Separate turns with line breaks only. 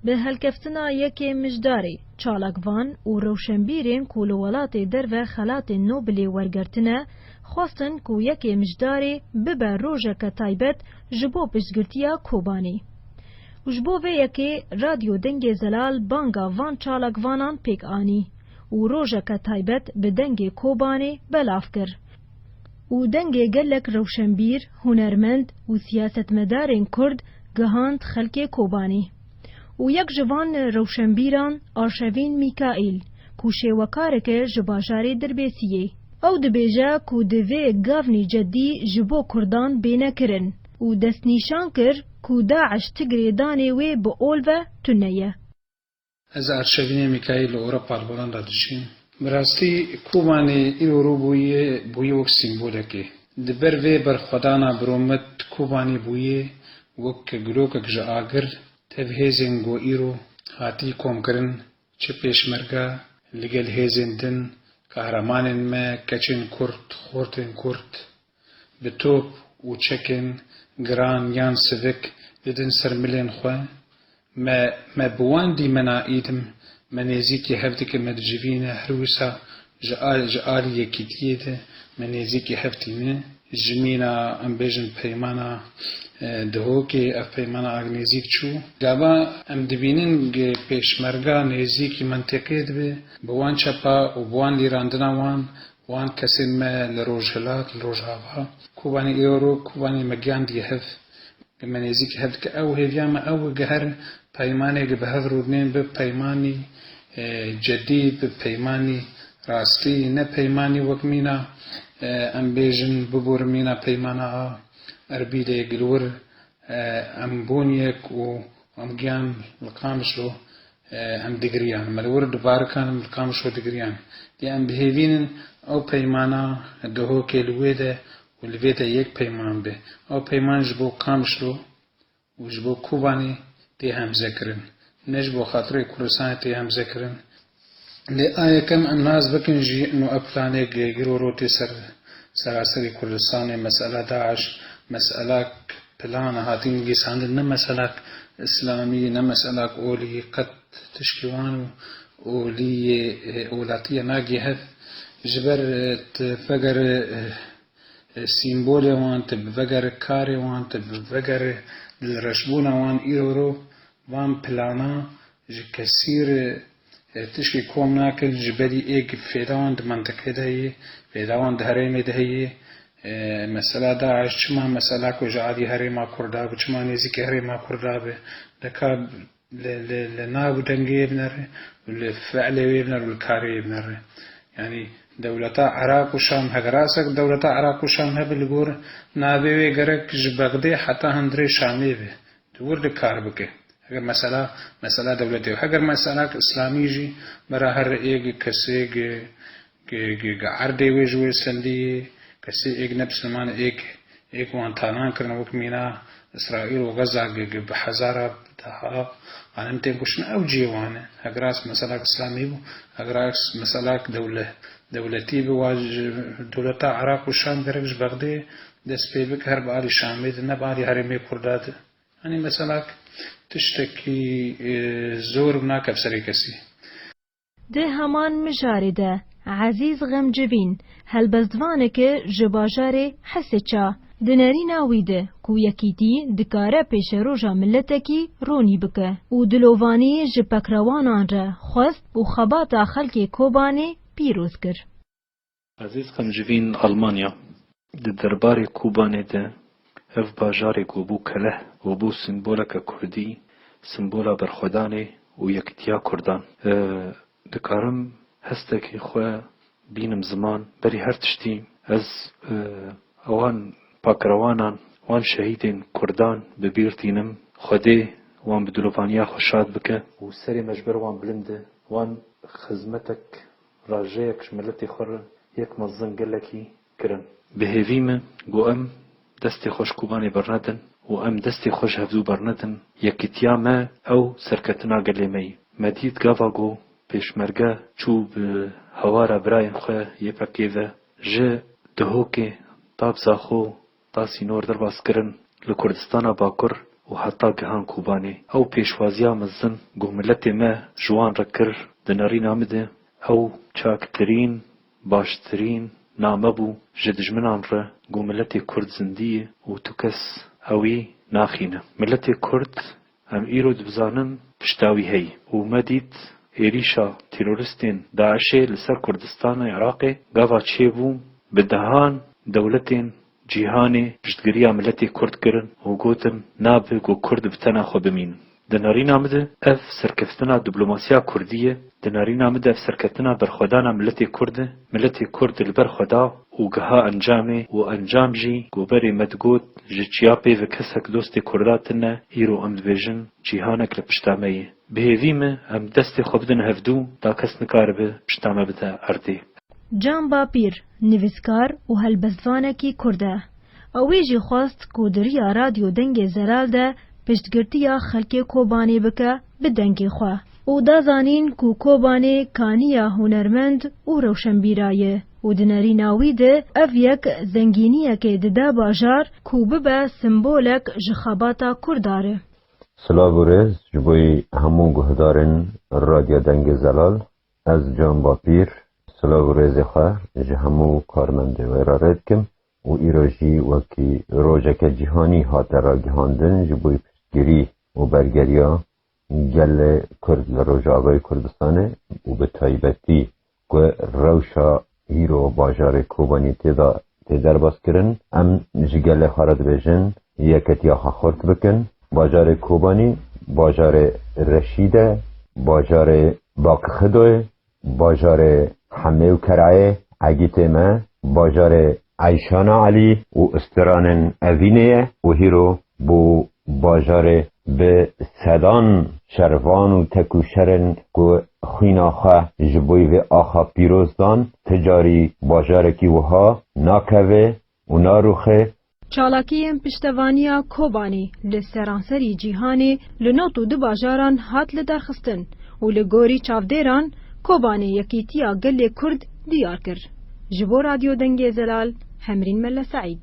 Bi helkeftina yekê mijdarî, çalakvan û rewşenbîrên ku li welatê derve xelatên Nobilê wergertine, xwestin ku yekê mijdarî bibe rojeke taybet ji bo piştgirtiya Kobanî. Û ji bo vê yekê Radyo Dengê Zelal banga van çalakvanan pêk anî û rojeke taybet bi dengê Kobanê belav kir. û dengê gelek rewşenbîr, hunermend û siyasetmedarên Kurd gihand xelkê Kobanî û yek ji van rewşenbîran Arşevîn Mîkaîl ku şêwekarik e ji bajarê Dirbêsiyê. Ew dibêje ku divê gavnî cedî ji bo Kurdan bêne kirin û destnîşan kir ku DAIŞ ti girêdanê wê bi ol ve tune ye. Ez Arşevinê Mîkaîl li Ewropa li Holanda dijîm. Bi rastî Kobanê îro rû bûye bûye wek sîmbolekê. Di ber vê berxwedana Biromit Kobanê bûye wek gulokek ji agir, tev hêzên ku îro hatî komkirin, çi pêşmerge, li gel hêzên din, kahramanên me, keçên kurd, xortên kurd, Bi top û çekên giran yan sivik didin ser milên xwe. Me me bi wan dîmena îdim, me nêzîkî hevdike me dicivîne her wisa ji a ji alî yekîtiyê de me nêzîkî hev tîne. Ji mîna em bêjin peymana Dihokê ev peymana ag nêzîk çû. Gava em dibînin ge pêşmerga nêzîkî menteqê dibe bi wan çepa û bi wan lîrandina wan Wan kesên me li Rojhilat, li Rojava, Kobanê Êro, Kobanê me giyandiye hev. Bi me nêzîk hev dike ew hêviya me ew e ge her peymanê ge bi hev rûnên bi peymanî cedî, bi peymanî rastî, ne peymanî wek mîna em bêjin biborin mîna peymana a Erbîlê, Gilwir em bûn yek û em giyan li Qamişlo. Em digiriyan, me li wir di barikan li Qamişlo digiriyan. Lê em dihêvînin ew peymana dohokê li wê de û li vê de yek peyman be. Ew peyman ji bo Qamişlo û ji bo Kobanê tê hemze kirin. Ne ji bo xatirê Kurdistanê tê hemze kirin. Lê a yekem em nas bikin jî no ev planêk girorotê ser seraserî Kurdistanê, mesela DAIŞ, mesela Plan hatî nivîsandin ne meselak îslamî ne meselak olî qet tişkî wan û olî yê welatî ye nagê hev. Ji ber tu vegere sîmbolê wan, tu vegere karê wan, tu vegere dilreşbûna wan îro ro van plana ji kesîr Ev tişkî kom nakir ji berî êg fêdawan di mintiqê de ye, fêdawan di herêmê de heye. Mesela DAIŞ çima mesela ku ji aliyê herêma Kurd a bi çima nêzîkî herêma Kurd a bi deka li nav û dengê wê binere û li feelê wê binere û li karê wê binere. Yanî dewleta Iraq û Şam heke rasek dewleta Iraq û Şam hebe li gor navê wê gerek ji Bexdê heta hundirê Şamê be. Tu wir de kar bike. Heger mesela mesela dewletê ye. Heger mesela ki îslamî jî bera her êg kesê gi gi gi gi erdê wê ji wê sendî yê. Kesê êg ne bisliman e êg êg wan talan kirine wek mîna îsraîl û xeza gi gi bi hezara bi deha xanim tên kuştin ew cihê wan e. Hegera mesela ki îslamî bû hegera mesela ki dewle dewletî bi wa ji dewleta Iraq û Şam gerek ji Bexdê Dest pê bike her bi alî Şamê de ne bi alî herêmê Kurda de. Yanî mesela tiştekî zor bi nakeve serê kesî. Di heman mijarê de Ezîz Xemcivîn helbestvaneke ji bajarê Hesiça di nerîna wî de ku yekîtî dikare pêşeroja miletekî ronî bike û dilovanî ji pekrawanan re xwest û xebata xelkê Kobanê pîroz kir. Ezîz Qamcivîn Almanya di derbarê Kobanê de ev bajarê ku bû keleh û bû simboleke kurdî, simbola berxwedanê û yekitiya kurdan. Dikarim hestekî xwe bînim ziman berî her tiştî. Ez wan pakrewanan, wan şehîdên kurdan bi bîr tînim. Xwedê wan bi dilovaniya xwe şad bike. Û serê me ji ber wan bilind e. Wan xizmetek Rajeyek ji miletê xwe re yek mezin gelekî kirin. Bi hêvî me got em destê xwe ji Kobanê bernedin û em destê xwe ji hevdû bernedin, yekîtiya me ew serketina gelê me ye. Me dît gava ku pêşmerge çû bi hawara birayên xwe yê PKK'ê ve ji Dihokê, Tabzaxo, Da sînor derbas kirin li Kurdistana Bakur û heta gihan Kobanê. Ew pêşwaziya mezin ku miletê me ji wan re kir di nerîna min de ew çaktirîn, baştirîn name bû ji dijminan re ku miletê Kurd zindî ye û tu kes ewî naxîne. Miletê Kurd Em îro dibizanin pişta wî heyî û me dît êrîşa teroristên DAIŞ'ê li ser Kurdistanê Iraqê gava çêbû, bi dehan dewletên cîhanê piştgiriya miletê Kurd kirin û gotin nabe ku Kurd bi tena xwe bimînin. Di nirîna min de ev serkeftina dîplomasiya Kurdî ye Di nêrîna min de serketina berxwedana miletê Kurd e. Miletê Kurd li ber xwe da û giha encamê û encam jî ku berê me digot ji çiya pêve kesek dostê Kurda tine îro em dibêjin cîhanek li pişta me ye. Bi hêvî me em destê xwe bidin hevdû da kes nikaribe pişta me bide erdê. Can Bapîr nivîskar û helbestvanekî Kurd e. Ew wê jî xwest ku di riya Radyo Dengê Zelal de piştgirtiya xelkê Kobanê bike bi dengê xwe. û da zanîn ku Kobanê kaniya hunermend û rewşenbîra ye û di nerîna wî de ev yek zengîniyekê dide bajar ku bibe simbolek ji xebata kurdar e. Silav û rêz ji bo hemû guhdarên Radya Dengê Zelal. Ez Can Bapîr silav û rêzê xwe ji hemû karmendê wê re rê dikim û îro jî wekî rojeke cîhanî hate ragihandin ji bo piştgirî û bergeriya Gelê Kurd li Rojavayê Kurdistanê û bi taybetî ku rewşa hîro bajarê Kobanî tê de tê derbaskirin, em ji gelê xwe re dibêjin yeketiya xwe xurt bikin. Bajarê Kobanî, bajarê Reşîd e, bajarê Baqi Xido ye Bajarê Hemê û Kerayê, Egîtê me, bajarê Eyşana Elî û Istiranên Evînê ye û hîro bo bajarê bi sedan şervan û tekûşerên ku xwîna xwe ji boî vê axa pîroz dan, ti carî bajarekî wiha nakeve û naruxe. Çalakiyên piştevaniya Kobanî li seranserî cîhanê li not û du bajaran hat lidarxistin û li gorî çavdêran Kobanî yekîtiya gelê Kurd diyar kir. Ji bo Radyo Dengê Zelal, Hemrîn Melle Seîd.